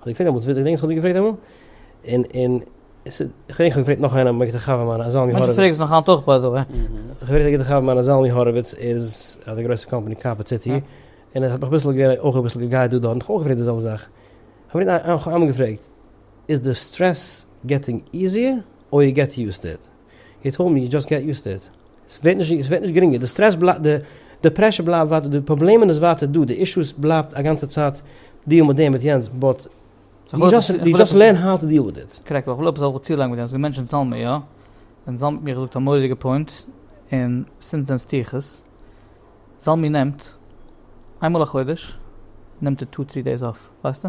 האט געפרעגט אמאל, ווער האט געדענקט וואס האט געפרעגט אמאל? און און עס איז, כ'דענק כ'האב געפרעגט נאך איינעם וועגן די חבר מיינע א זלמי הורוויץ. מענטשן פרעגן עס נאך היינט אויך ביי די וועי. כ'ווער געפרעגט די חבר מיינע זלמי הורוויץ איז האט א גרויסע קאמפאני קארפעט סיטי, און איך האב אויך אביסל גערעדט אויך אביסל געגייט דא דארט, און כ'האב אויך געפרעגט די זעלבע זאך. כ'האב נאך איינמאל געפרעגט, איז די סטרעס געטינג איזיער אר יו געט יוזט טו איט? יו טאלד מי יו דזשאסט געט יוזט טו איט. סווערט נישט סווערט נישט גרינגער די סטרעס בלייבט די די פרעשור בלייבט ווייטער די פראבלעמען איז ווייטער דא די אישוס בלייבט א גאנצע צייט דיעל מיט דעם מיט יענץ באט יו דזשאסט לערן האו טו דיעל וויט איט. קרעקט אבער כ'וויל עפעס זאל צולייגן מיט דעם ס'דא מענטשן צאלן מיר יא ווען זלמן האט מיר געזאגט א מורא'דיגע פוינט און סינס דען סטיר איך עס זלמן נעמט איינמאל א חודש נעמט ער טו טרי דעיס אףף ווייסטו.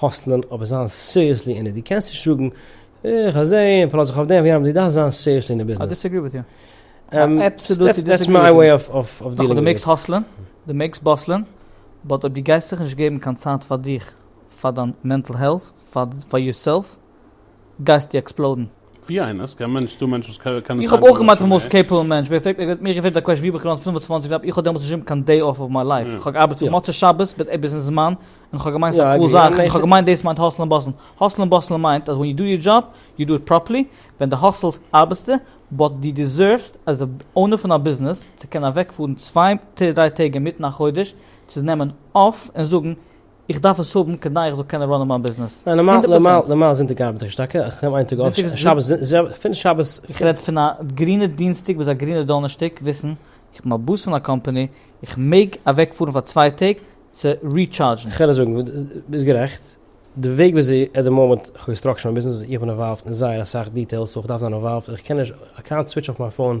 האסטלען אבער זיין סיריעסלי אין עט דו קענסט נישט זאגן איך האב זעהן און פארלאז זיך אויף דעם ווי יענעם דו דארפסט זיין סיריעסלי אין די ביזנעס. דעטס מיי וועי אוו דיעלינג וויט איט. נאכדעם דו מעגסט האסלען, דו מעגסט באסלען, באט אויב דו גייסט זיך נישט געבן קיין צייט פאר דיך, פאר דיין מענטל העלט, פאר יורסעלף, גייסטו עקספלאודן. ווי איינער? ס'קען מענטש ס'דא מענטש וואס קען סיי וואס. איך האב אויך געמיינט פון מאסט קעיפעבל מענטש, ווער פרעגט ווער האט מיר געפרעגט א קוועשן ווי האב איך געלאנט פֿינף און צוואַנציק דאלאר, איך האב דעמאלטס נישט געהאבן קיין דעי אף אויף מיין לייף, איך האב געארבעט פון מוצאי שבת ביז ביזן זמן, און איך האב געמיינט ס'איז א קאל זאך, איך האב געמיינט דאס מיינט האסלן און באסלן, האסלן און באסלן מיינט אז ווען יו דו יור דזשאב, יו דו איט פראפערלי, ווען די האסלסט ארבעטסטו, באט די דיזערווס עז א אונער פון א ביזנעס צו קענען אוועקפארן צוויי דריי טעג אינמיטן א חודש צו נעמען אף און זאגן איך דארף עס האבן כדי איך זאל קענען ראנען מיין ביזנעס. ניין נארמאל הונדערט נארמאל פראצענט. נארמאל זונטאג ארבעט איך נישט טאקע, איך נעם איין טאג אויף, זונטאג איז א שבת ז א, פון שבת פ. איך רעד פון א גרינע דינסטאג ביז א גרינע דאנערשטאג וויסן איך בין א באס פון א קאמפאני, איך מעג אוועק פארן פאר צוויי טעג צו ריטשארדזשן. כ'על עס זאגן ווי ביסט גערעכט, די וועג וויאזוי עט די מאמענט כ'האב געסטראקטשעט מיין ביזנעס איז איך בין אינוואלווד אין זייער אסאך דיטעילס סאו כ'דארף זיין אינוואלווד, איך קען נישט, איי קענט סוויטש אף מיי פאון,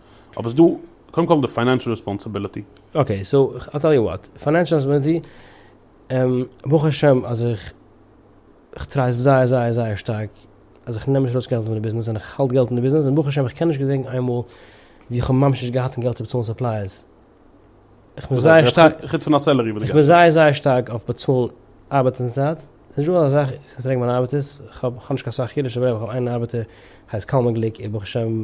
אבער ס'איז דא קודם כל די פיינענשעל רעספאנסיביליטי. אקעי סאו איך טעל יו וואט, פיינענשעל רעספאנסיביליטי, ברוך השם אז איך כ'טריי זייער זייער זייער שטארק אז איך נעם נישט ארויס געלט פון די ביזנעס און איך האלט געלט אין די ביזנעס און ברוך השם איך קען נישט געדענקן איינמאל ווי איך האב ממש נישט געהאט קיין געלט צו באצאלן סופלייערס, איך בין זייער שטארק, חוץ פון א סעלערי וואס דו איך בין געטס. זייער זייער שטארק אויף באצאלן ארבעטן צייט, ס'איז נישטא אזא זאך, איך פרעג מיינע ארבעטערס, כ'האב כ'האב נישט קיין סאך אידישע, איך האב איין ארבעטער, הייסט קלמן גליק, איז ברוך השם,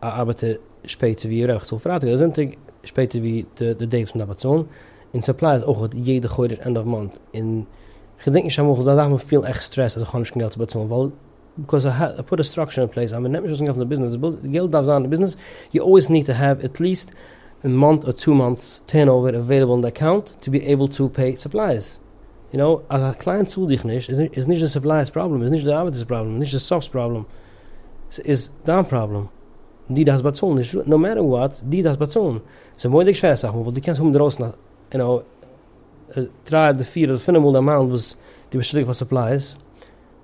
א ארבעטער שפעטער ווי רעכט צאלט פרייטאג אדער זונטאג שפעטער ווי די דעי וואס מען דארף באצאלן, און סופלייס אויכעט יעדע חודש ענד אוו מאנט, און כ'דענק נישט אמאל כ'זאל דארפן פילן עכט סטרעסט אז כ'האב נישט קיין געלט צו באצאלן ווייל ביקאז א א פוט א סטראקטשער אין פלעיס אז מען נעמט נישט ארויס קיין געלט פון די ביזנעס וויל די געלט דארף זיין אין די ביזנעס יו אלוועיס ניד טו העוו עטליעסט א מאנט אר טו מאנטס טורנאווער עוועילעבל אין די אקאונט טו בי עיבל טו פעי סופלייס יו נאו אז א קלייענט צאלט דיך נישט איז נישט די סופלייס פראבלעם איז נישט די ארבעטערס פראבלעם נישט די סאפס פראבלעם. ס'איז דיין פראבלעם, דו דארפסט באצאלן נישט נאו מעטער וואט, דו דארפסט באצאלן, ס'איז מורא'דיג שווער אסאך מאל, ווייל דו קענסט האבן אינדרויסן א יו נאו דריי אדער פיר אדער פינף מאל די אמאונט וואס דו ביסט שולדיג פאר סופלייס,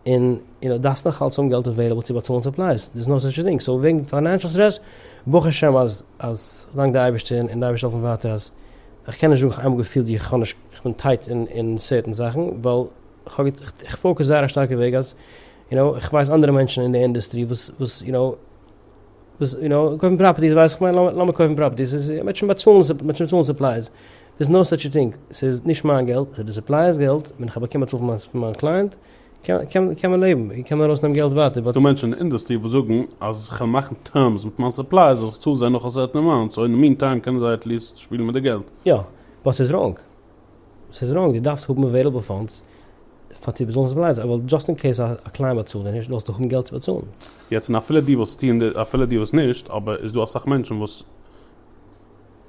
און יו נאו דארפסט נאך אלץ האבן געלט עוועילעבל צו באצאלן סופלייס, דאס איז נאו סאטש א טינג, סאו וועגן פיינענשעל סטרעס, ברוך השם אז אז דאנק די אייבערשטער און די אייבערשטער העלפט מיר ווייטער אז איך קען נישט זאגן איך האב איינמאל געפילט ווי איך האב נישט איך בין טייט אין אין סערטען זאכן ווייל איך האב איך פאוקעס זייער א שטארקע וועג אז יו נאו, איך ווייס אנדערע מענטשן אין די אינדוסטרי וואס וואס יו נאו וואס יו נאו קויפן פראפערטיס ווייסט איך מיין לאמיר קויפן פראפערטיס איז מען וועט שוין באצאלן מען וועט שוין באצאלן סופלייס דעיס נאו סאטש א טינג סאיז נישט מיין געלט סאיז די סופלייערס געלט ווען איך האב באקומען א צאל פון מיין קלייענט קען קען מען לעבן און קען מען ארויס נעמען געלט ווייטער באט ס'דא מענטשן אין די אינדוסטרי וואס זאגן אז איך וועל מאכן טערמס מיט מיין סופלייערס אז איך צאל זיי נאך א סערטען אמאונט סאו אין די מין טיים קענען זיי עטליעסט שפילן מיט די געלט. יא, באט ס'איז ראנג. ס'איז ראנג, דו דארפסט האבן עוועילעבל פאנדס פאר צו באצאלן ס'איז בלייז, אבער דזשאסט אין קעיס א קלייענט באצאלט דיר נישט זאלסטו האבן געלט צו באצאלן. יעצט און אפילו דו ווילסט טוהן די, אפילו דו ווילסט נישט, אבער איז דא אסאך מענטשן וואס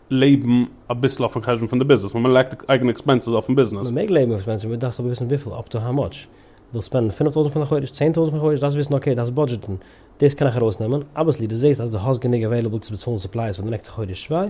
לעבן אביסל אויפן חשבון פון די ביזנעס, ווען מ'לייגט די אייגענע עקספענסעס אויפן ביזנעס. מ'מעג לעבן אויף עקספענסעס, אבער דארפסט אבער וויסן וויפיל, אפ טו האו מאטש, ווילסט ספענדן פינף טויזנט פאר די חודש, צען טויזנט פאר די חודש, דארפסט וויסן אקעי דארפסט בודזשעטן, דאס קען איך ארויסנעמען, אבוויעסלי דו זעהסט אז דו האסט גענוג עוועילעבל צו באצאלן סופלייס פאר די נעקסטע חודש צוויי,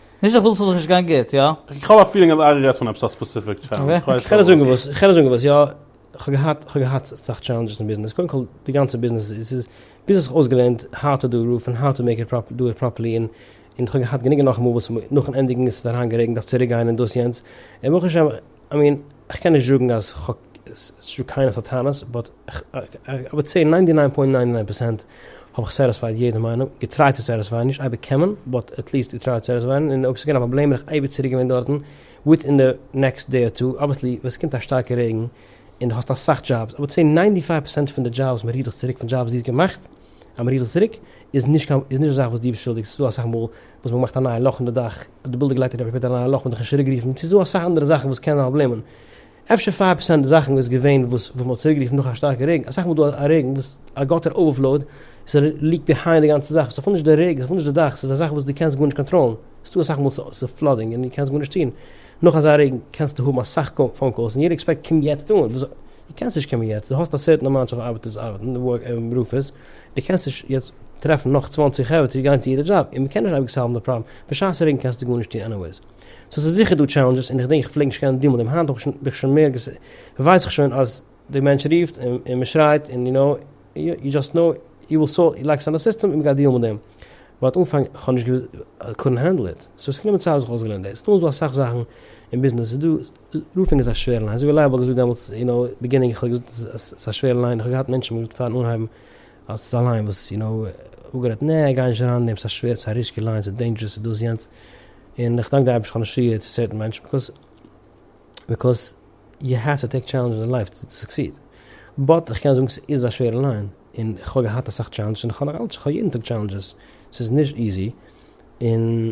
נישט איך וויל ס'זאל זיך נישט גיין גוט, יא? איך האב א פילינג אז ארי רעדט פון עפעס א ספעסיפיק טשעלענדזש, כ'ווייס כ'על זאגן וואס, כ'על זאגן וואס, יא, כ'האב געהאט, כ'האב געהאט אסאך טשעלענדזשעס אין ביזנעס, קודם כל די גאנצע ביזנעס איז, ס'איז, ביז איך האב אויסגעלערנט האו טו דא רוף און האו טו מעיק איט דא איט פראפערלי און און כ'האב געהאט גענוג און נאך מאל וואס נאכן ענדיגן איז עס אריינגערעגנט אויף צוריקגיין און דאס יענץ און ברוך השם, איי מין איך קען נישט זאגן אז כ'האב ס'איז קיינע פון די טענות באט איך וואלט סעי ניינטי ניין פוינט ניין ניין פערסענט האב איך סעטיספייד יעדע מיינונג געטרייט צו סעטיספייען נישט אייביג קען מען באט עטליעסט איר טרייט צו סעטיספייען און אויב ס'איז געווען א פראבלעם בין איך אייביג צוריק געווען דארטן וויטין די נעקסט דעי אר טו אבוויעסלי ווען ס'קומט א שטארקע רעגן און די האסט אסאך דזשאבס אבער צו ניינטי פייוו פערסענט פון די דזשאבס מ'רופט דיך צוריק פון דזשאבס די האסט געמאכט אמער איך זאג צוריק, איז נישט קיין, איז נישט א זאך וואס דו ביסט שולדיג, ס'איז דא אסאך מאל וואס מ'מאכט א נייע לאך אין די דאך, די בילדער גלייט אראפ מ'קען טון א נייע לאך, מ'דארף נישט צוריקרופן, ס'איז דא אסאך אנדערע זאכן וואס קענען פראבלעמען, אפשר פייוו פערסענט זאכן איז געווען וואס וואס מ'האט צוריקגערופן נאך א שטארקע רעגן, אסאך מאל איז דא א רעגן וואס א גאטער אווערפלאוד איז ליעקט ביהיינד די גאנצע זאך, ס'איז אפילו נישט די רעגן, ס'איז אפילו נישט די דאך, ס'איז א זאך וואס דו קענסט גארנישט קאנטראלן, ס'איז דא אסאך מאל ס'איז פלאדינג און דו קענסט גארנישט טון, נאך אזא רעגן קענסטו האבן אסאך פאון קאלס און יעדער עקספעקט קום יעצט אן, דו קענסט נישט קומען יעצט, דו האסט א סערטען אמאונט אוו ארבעט צו ארבעטן, רופערס, דו קענסט נישט יעצט טרעפן נאך צוואַנציק חברה צו גיין צו אירע דזשאב, און מ'קען נישט אייביג סאלוון די פראבלעם, בשעת רעגן קענסטו גארנישט טון עניוועיס. סאו ס'איז זיכער דא טשעלענדזשעס, און איך דענק איך פלעג נישט קענען די מאל, דעם היינט האב איך שוין בין איך שוין מער ווייס איך שוין אז די מענטש רופט און מ'שרייט און יו נאו יו דזשאסט נאו יו וויל סאלוו יו לייגסט אן א סיסטעם און מ'גייט דיעלן מיט דעם, באט אנפאנג איך האב נישט געוואוסט איי קאנט הענדל איט, סאו ס'איז גענומען צייט ביז איך האב אויסגעלערנט דאס, נאך איז דא אסאך זאכן אין ביזנעס איז דא. לופין איז א שווערע ליין, אזוי ווי לייבעל האט געזאגט דעמאלטס אין די ביגינינג, איך האב געזאגט אז ס'איז א שווערע ליין, איך האב געהאט מענטשן וואס האבן געזאגט פארן אנהייבן אז ס'איז א ליין וואס יו נאו אפגערעדט נע גיי נישט אריין אין דעם, ס'איז א שווערע, ס'איז א ריסקי ליין, ס'איז דעינדזשערעס, ס'איז דאס יענץ, און איך דאנק די אייבערשטער כ'האב נישט צוגעהערט צו צערטן מענטשן, ביקאז ביקאז יו העוו טו טעיק טשעלענדזשעס אין לייף טו סוקסיד, באט איך קען זאגן ס'איז א שווערע ליין, און כ'האב געהאט אסאך טשעלענדזשעס און כ'האב נאכאלץ, כ'האב יעדן טאג טשעלענדזשעס, ס'איז נישט איזי, און.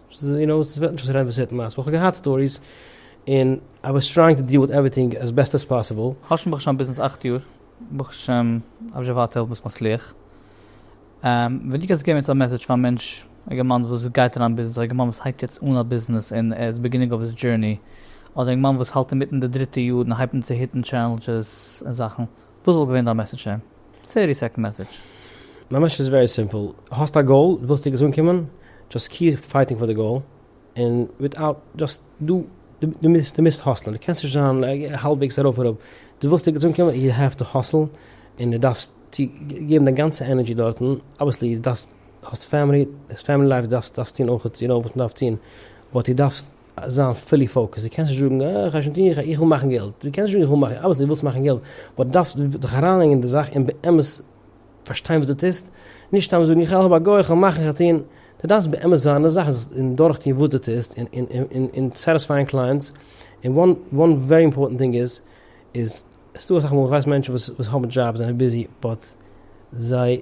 יו נאו, עס וועט נישט אויסרעדן וואס ער האט מאסט, וואלט איך געהאט סטאריס, און איי וואס טרייאינג טו דיעל וויט עווריטינג עס בעסט עס פאסיבל. האשם ברוך השם ביזנעס אַכט יאר, ברוך השם אויף זשעווארט העלפ ביסט מצליח. ווען דו קענסט געבן יעצט א מעסעדזש פאר א מענטש, א גערמאן וואס גייט אריין אין ביזנעס, אדער א גערמאן וואס הייבט יעצט אן א ביזנעס און ער איז ביגינינג אוו היז דזשורני, אדער א יונגמאן וואס האלט אינמיטן די דריטע יאר און הייבט אן צו היטן טשעלענדזשעס און זאכן, וואס וואלט געווען דיין מעסעדזש אים? צערטי סעקנד מעסעדזש. מיין מעסעדזש איז ווערי סימפל, האסט א גאול, ווילסט ערגעץ אנקומען, דזשאסט קיעפ פייטינג פאר די גאול, און וויטאוט דזשאסט דו דו מוזט האסלען, דו קענסט נישט זיין האלבוועגס ארויף אראפ, דו ווילסט ערגעץ אנקומען, יו העוו טו האסל, און דו דארפסט געבן דיין גאנצע ענערדזשי דארטן, אבוויעסלי דו דארפסט, האסט פעמילי, פעמילי לייף, דארפסט טון אויך, יו נאו וואס מען דארף טון, באט דו דארפסט זיין פולי פאוקעסט, דו קענסט נישט זאגן אה איך גיי שוין טון, איך וויל מאכן געלט, דו קענסט נישט זאגן איך וויל מאכן, אבער דו ווילסט מאכן געלט, באט דארפסט דיך אריינלייגן אין די זאך און באמת פארשטיין וואס דו טוסט, נישט סתם זאגן איך העלף א גוי, איך וועל מאכן, איך וועל טון, דו דארפסט באמת זיין אין די זאך און דורך טון וואס דו טוסט און סעטיספייען קלייענטס, און וואן ווערי אימפארטענט טינג איז, איז עס איז דא אסאך מאל איך ווייס מענטשן וואס האבן דזשאבס זענען ביזי באט זיי.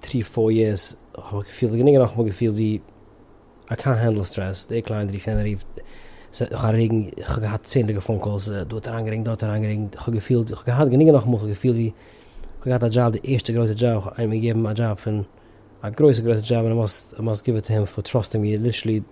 טרי פויערס האב איך געפילט גענוג נאך מאל געפילט ווי איי קענט הענדל סטרעס דער קליינט רופט יענער רופט סע נאך א רעגן איך האב געהאט צענדליגע פאון קאלס דא האט אריינגערעגנט דא האט אריינגערעגנט איך האב געפילט איך האב געהאט גענוג נאך מאל איך האב געפילט ווי איך האב געהאט א דזשאב די ערשטע גרויסע דזשאב איך האב איינעם געגעבן א דזשאב פון א גרויסע גרויסע דזשאב און איי מאסט גיוו איט טו הים פאר טראסטינג מיר ליטערלי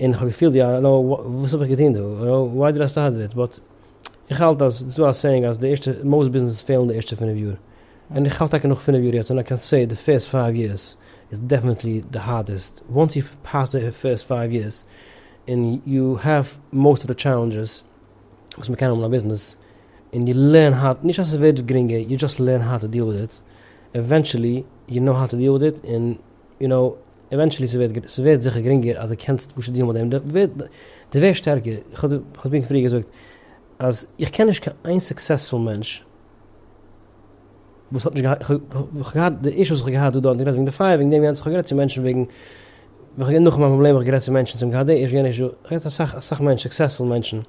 און כ'האב געפילט יא נא וואס האב איך געטון דא וואי דיד איי סטארט איט באט איך האלט אז ס'איז דא א סעיאינג אז די ערשטע מאוסט ביזנעסעס פעלן די ערשטע פֿינף יאר און איך האלט טאקע נאך פֿינף יאר יעצט און איי קען סעי די פירסט פייוו יערס איז דעפענעטלי די הארדעסט וואנס יו פעס די פירסט פייוו יערס און יו העוו מאוסט אוו די טשעלענדזשעס וואס מ'קען האבן אין א ביזנעס און יו לערן האו נישט אז ס'ווערט גרינגער יו דזשאסט לערן האו טו דיעל וויט איט עווענטשעלי יו נאו האו טו דיעל וויט איט און יו נאו עווענטשעלי ס'ווערט זיכער גרינגער אז די קענסט פשוט דיעלן מיט דעם, די ווערסט שטערקער, כ'האב דיר פריער געזאגט אז איך קען נישט קיין איין סוקסעספול מענטש וואס האט נישט געהאט, כ'האב געהאט די אישוס וואס כ'האב געהאט דא, כ'האב גערעדט וועגן די פייער, וועגן דעם יענץ, כ'האב גערעדט צו מענטשן וועגן, וועגן נאך מיין פראבלעם, כ'האב גערעדט צו מענטשן צום געהאט די אישו יענע אישו, כ'האב גערעדט צו אסאך מענטשן, סוקסעספול מענטשן,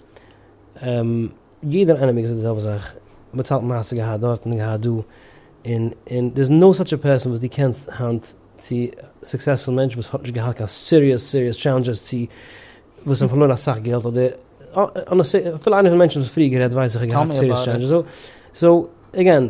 יעדער איינעמיגער זאגט די זעלבע זאך, באצאלט מעשה געהאט דארט און געהאט דא, און און דער איז נאו סאטש א פערסאן וואס דו קענסט היינט צו סוקסעספול מענטש וואס האט נישט געהאט קיין סיריעס סיריעס טשעלענדזשעס צו וואס האבן פארלוירן אסאך געלט אדער אפילו איינער פון די מענטשן וואס פריער גערעדט ווייס איך האט געהאט סיריעס טשעלענדזשעס סאו עגעין.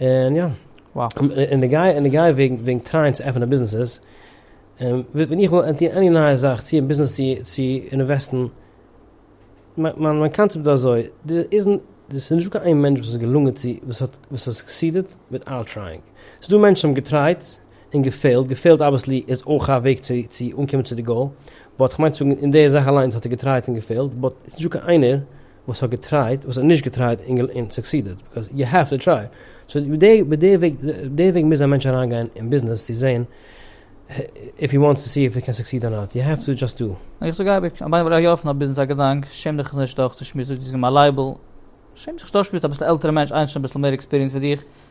און יא, און די גיי און די גיי וועגן טרייען צו עפענען ביזנעסעס, ווען איך וויל ענטוהן עני נייע זאך צו אין ביזנעס צו צו אינוועסטן, מיין קאנצעפט איז אזוי, דער איז נישט דא קיין איין מענטש וואס איז געלונגען צו וואס האט וואס האט סוקסידעט וויטאוט טרייענג, ס'איז דא מענטשן וואס האבן געטרייט און געפעילט, געפעילט אבוויעסלי איז אויך א וועג צו צו אנקומען צו די גאול, באט כ'מיין צו זאגן אין די זאך אליינס האט ער געטרייט און געפעילט, באט ס'נישט דא קיין איינער. וואס האט געטרייט וואס האט נישט געטרייט און סוקסידעד ביקאוז יו העוו טו טריי סאו די וועג מוז א מענטש אריין גיין אין ביזנעס צו זעהן איף הי וואנטס טו סי איף הי קען סוקסיד אר נאט יו העוו טו דזשאסט דא. איך זאג אייביג אז ביי ווען איך גיי אויפן א ביזנעס א געדאנק שעם דיך נישט דורך צו שמועסן זאג דו זיך גיב מיר א לייבל שעם זיך נישט דורך שמועסן אביסל עלטערע מענטש איינער שוין אביסל מער עקספיריענס ווי דיך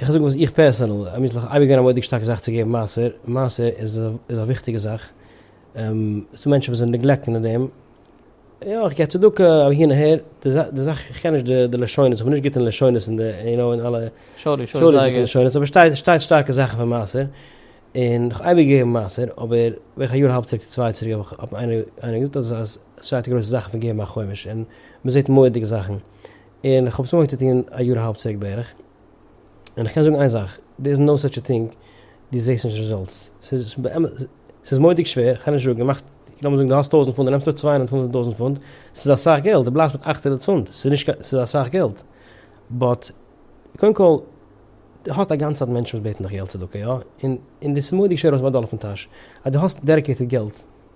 איך וועל זאגן וואס איך פערסענעל, האב מיך אייביג געווען א מורא'דיג שטארקע זאך צו געבן מעשר, מעשר איז א וויכטיגע זאך, ס'איז דא מענטשן וואס נעגלעקטן אין דעם, יא איך גיב צדקה אבער הי און הער, די זאך איך קען נישט די לשונות, איך בין נישט גוט אין לשונות אין די יו נאו אין אלע לשונות, אבער שטייט שטייט שטארקע זאכן פון מעשר, און איך האב אייביג געגעבן מעשר, אבער בערך א יאר אהאלב צוריק צו צוויי צוריק האב איך האט מיר איינער געזאגט אז אז ס'שטייט די גרויסע זאכן פון געבן א חומש, און מ'זעט מורא'דיגע זאכן, און איך האב עס אנגעהויבן צו טון א יאר אהאלב צוריק בערך. און כ'קען זאגן איין זאך, דער איז נאו סאטש א טינג, דו זעסט נישט רעזאלטס, ס'איז באמת, ס'איז מורא'דיג שווער, כ'קען נישט זאגן, מאכסט, לאמיר זאגן דו האסט טויזנט פונט, דו נעמסט אויף צוויי הונדערט פונט טויזנט פונט, ס'איז אסאך געלט, דו בלייבסט מיט אכט הונדערט פונט, ס'איז נישט קיין, ס'איז אסאך געלט, באט, קודם כל, דו האסט א גאנצע צייט מענטשן וואס בעטן דיך געלט צדקה, יא, און, און דאס איז מורא'דיג שווער ארויסצונעמען א דאלער פון טאש, אז דו האסט דעדיקעיטעד געלט,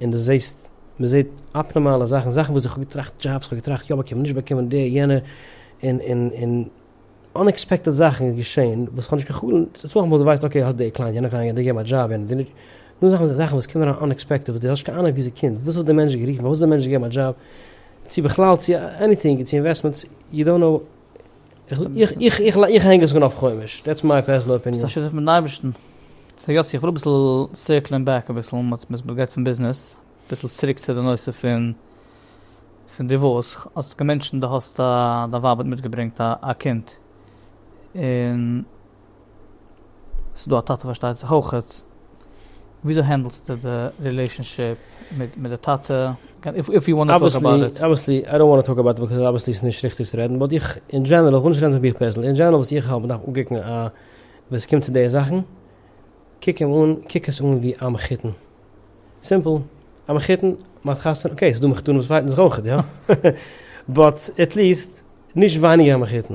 און דו זעסט, מען זעט אפנארמאלע זאכן, זאכן וואס איך האב געטראכט דזשאבס, איך האב געטראכט יא באקומען נישט באקומען די יענע, און און און אנעקספעקטעד זאכן געשען וואס איך האב נישט קיין חלום, ס'איז צומאל וואס דו ווייסט אקעי האסט די קליינט, יענע קליינט, די געבן א דזשאב, יענע די נישט, נאר זאכן זאכן וואס קומען אריין אנעקספעקטעד וואס דו האסט נישט קיין אנונג וואו ס'קומט, וואס האט די מענטש גערופן, פארוואס האט די מענטש געגעבן א דזשאב, צו בכלל צו עניטינג, צו אינוועסטמענטס, יו דאנט נאו. איך הענג עס אן אויף חומש, דעטס מיי פערסענעל אפיניען. ביסט א שותף מיטן אייבערשטן. סא יאסי איך וויל אביסל סירקלען בעק אביסל, מ'האט גערעדט פון ביזנעס, אביסל צוריק צו די נושא פון פון דיווארס, האסט געמענטשענט די האסט א דיין ווייב האט מיטגעברענגט א קינד, און. ס'דא א טאטע פארשטייט זיך אויכעט, וויאזוי הענדלסטו די רילעישאנשיפ מיט מיט די טאטע? איף יו וואנט טו טאלק אבאוט איט. אבוויעסלי, אבוויעסלי, איי דאנט וואנט טו טאלק אבאוט איט ביז אבוויעסלי ס'איז נישט ריכטיג צו רעדן, באט איך אין דזשענעראל, איך וויל נישט רעדן פון מיך פערזענליך, אין דזשענעראל וואס איך האלט מ'דארף אנקוקן א, ווען ס'קומט צו די זאכן, קוק אים אן, קוק עס אן ווי א מחותן. סימפל. א מחותן, מ'האט חתונה, אקעי, ס'דא מחותנים וואס פייטן זיך אויכעט, יא. באט עטליעסט נישט ווייניגער א מחותן.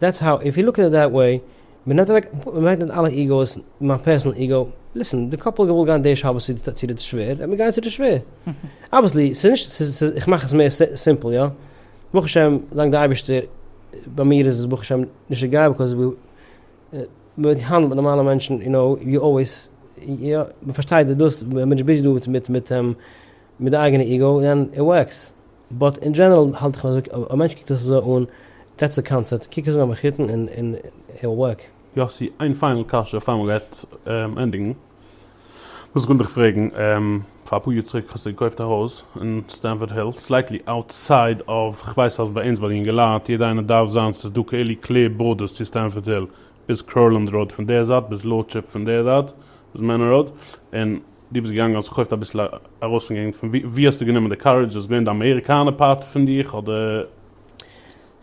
דעטס האו איף יו לוק עט איט דעט וועי, מ'נעמט אוועק, מ'ברענגט מיט אלע איגאוס, מיין פערסענעל איגאו, ליסען, די קאפל האט געוואלט גיין די שבת צו די צו די שווער, וועט מען גיין צו די שווער, אבוויעסלי, ס'איז נישט, ס'איז ס'איז איך מאך עס מער סימפל יא, ברוך השם דאנק די אייבערשטער ביי מיר איז עס ברוך השם נישט די גאי ביקאוז ווי מ'וועט האנדלט מיט נארמאלע מענטשן יו נאו יו אלוועיס יא מ'פארשטייט די דאס ווען מ'איז נישט ביזי דא מיט מיט מיט די אייגענע איגאו און איט ווארקס. באט אין דזשענערל האלט איך אזוי אויב א מענטש קוקט עס אזוי אן, דעטס די קאנצעפט, קוק עס אן אויף מחותן און איט וויל ווארק. יאסי, איין פיינעל קשיא פאר מ'גייט ענדיגן. וואס איך וויל דיך פרעגן, פאר אפאר יאר צוריק האסטו געקויפט א הויז אין סטענפארד היל, סלייטלי אוטסייד אוו, כ'ווייס אז ביי אונז ביי די יונגעלייט, יעדע איינער דארף זיין ס'איז דא כאלו קלעיר בארדערס צו סטענפארד היל, ביז קורלענד ראוד פון דער זייט, ביז לארדשיפ פון דער זייט, ביז מענער ראוד, און דו ביסט געגאנגען האסט געקויפט אביסל ארויס פון געגנט, פון ווי האסטו גענומען די קארעדזש, איז געווען די אמעריקאנע פארט פון דיך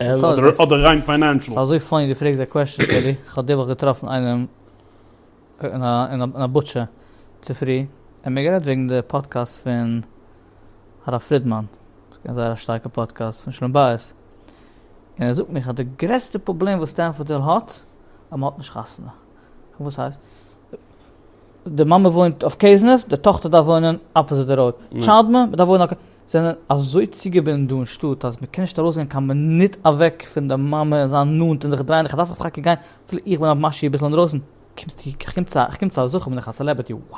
אדער ריין פיינענשעל? ס'איז אזוי פאני דו פרעגסט אזא קוועשטען שלי, כ'האב די וואך געטראפן איינעם אין א בוטשע צופרי, און מיר גערעדט וועגן די פאדקעסט פון הרב פרידמאן, ס'געווען זייער א שטארקע פאדקעסט פון שלום בית, און ער זאגט מיר אז די גרעסטע פראבלעם וואס סטענפארדעל האט אז מ'האט נישט חתונה. וואס הייסט? די מאמע וואוינט אויף קעזנעף, די טאכטער דארף וואוינען אפאזיט די ראוד. טשיילד מען דארף וואוינען אויף. זענען אזוי צוגעבינדן דא אין שטאט אז מ'קען נישט ארויסגיין קיין מינוט אוועק פון די מאמע און זיין נאנט און זיך דרייען, איך דארף טאקע גיין אפילו איך בין א משי אביסל אינדרויסן, קומסטו, איך קום צו א זכר, בין איך א סעלעבערטי, wow!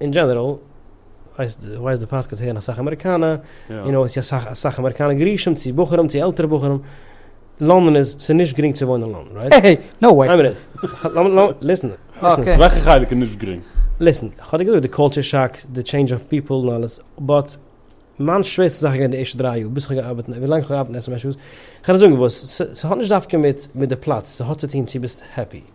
אין דזשענעראל, כ'ווייס די פאדקעסט הערן אסאך אמעריקאנע, און אויך צו אסאך אסאך אמעריקאנע גרושים, צו בחורים, צו עלטערע בחורים, לאנדאן איז, ס'איז נישט גרינג צו וואוינען אין לאנדאן, רייט? העי, נאו וועי! איין מינוט, לאמיר לאמיר, ליסן, ליסן, ס'איז, וועלכע חלק איז נישט גרינג? ליסן, כ'האב דיר געזאגט די קולטשער שאק, די טשעינדזש אוו פיפל און אלעס, באט, מיין שווערסטע זאך איז געווען די ערשטע דריי יאר, ביז כ'האב געארבעט, ווילאנג כ'האב געארבעט אין SMSU's, כ'קען נישט זאגן וואס, ס'האט נישט דווקא מיט מיט די פלאץ, ס'האט צוטון צו ביסט העפי.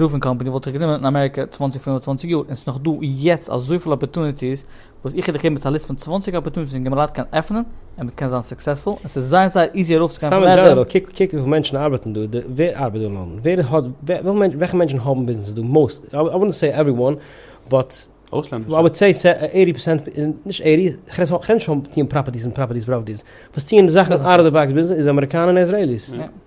רופינג קאמפעני וואלט איך גענומען אין אמעריקע צוואַנציק פינף און צוואַנציק יאר און ס'איז נאך דא יעצט אזויפיל אפערטוניטיס וואס איך איך געב מיט א ליסט פון צוואַנציק אפערטוניטיס און געמלייט קיין עפענען און מ'קען זיין סוקסעספול און ס'איז זייער זייער איזי ארויפצוגיין סתם אין דזשענעראל קוק קוק וויפיל מענטשן ארבעטן דא ווער ארבעט דא אלעמאל ווער האט וועלכע מענטשן האבן ביזנעסעס דא מאוסט איי וואנט סעי עווערי וואן באט אויסלענדישע? אוואלט סעי עיטי פערסענט נישט עיטי כ'רעד נישט פון טיען פראפערטיס און פראפערטיס פראפערטיס וואס טיען זאכן אוט אוו די באקס ביזנעס איז אמעריקאנע און איזרעיליס.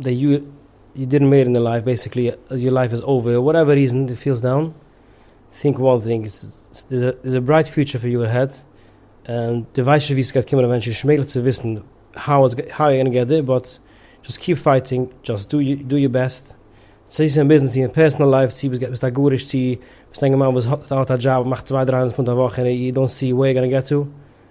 די יאר יו דידנט מעיד אין לייף, בעסיקלי יור לייף איז אווער, וואטעווער ריזען דו פילסט דאון, טינק וואן טינג, סאיז א ברייט פיוטשער פאר יו אהעד, און דו ווייסט נישט ווי סגייט קומען עווענטשעלי, נישט מעגליך צו וויסן האו איטס גאנע געט דעיר, באט דזשאסט קיעפ פייטינג, דזשאסט דא יור בעסט, צי סאיז אין ביזנעס צי אין פערסענעל לייף, צי ביסט א גרוש צי ביסט א אינגערמאן וואס האט א דזשאב און מאכט צוויי דריי הונדערט פונט א וואך און יו דאונט סי וועיר יור גאנע געט טא.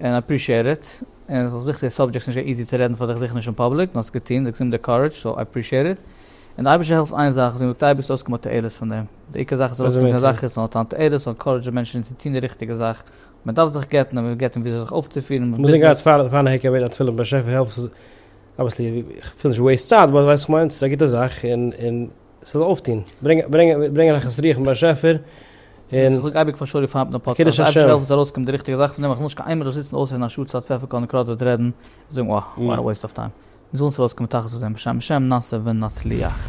און אפרישיעט איט, און ס'איז וויכטיג די סאבדזשעקט איז נישט געווען איזי צו רעדן פאר דיך זיכער נישט אין פאבליק, נאר האסט עס געטון, דו האסט גענומען די קארעדזש, סאו אפרישיעט איט, און די אייבערשטער העלפט איין זאך, זי מתי ביסטו אויסגעקומען מיט תועלת פון דעם, די עיקר זאך איז ארויסקומען מיט א זאך איז האט אן תועלת, ס'זאל ענקארעדזשען מענטשן צו טון די ריכטיגע זאך, מען דארף זיך גט'ן און מען געבט אים וויאזוי זיך אויפצופירן אין ביזנעס. פארן העיקר בעטן א תפילה פון באשעפער העלף, ס'איז אבוויעסלי, כ'וויל נישט וועיסט צייט, באט ווייסט וואס כ'מיין, ס'איז א גוטע זאך, און. ס'זאל אויפטון, ברענגען נחת רוח פון באשעפער, און. איך זאג אייביג פאר שרי פארן מיטן א פאדקעסט, אויב די זעלבסט ארויס קומט די ריכטיגע זאך פון דעם, איך וויל נישט קיין איינמאל דא זיצן אויסהערן א שעה צייט פפפער קאלן קראדווערט רעדן, און זאגן אה, וואט א וועיסט אוו טיים. מיר זאלן עס ארויסקומען תכלית אויף דעם, בשם השם נעשה ונצליח.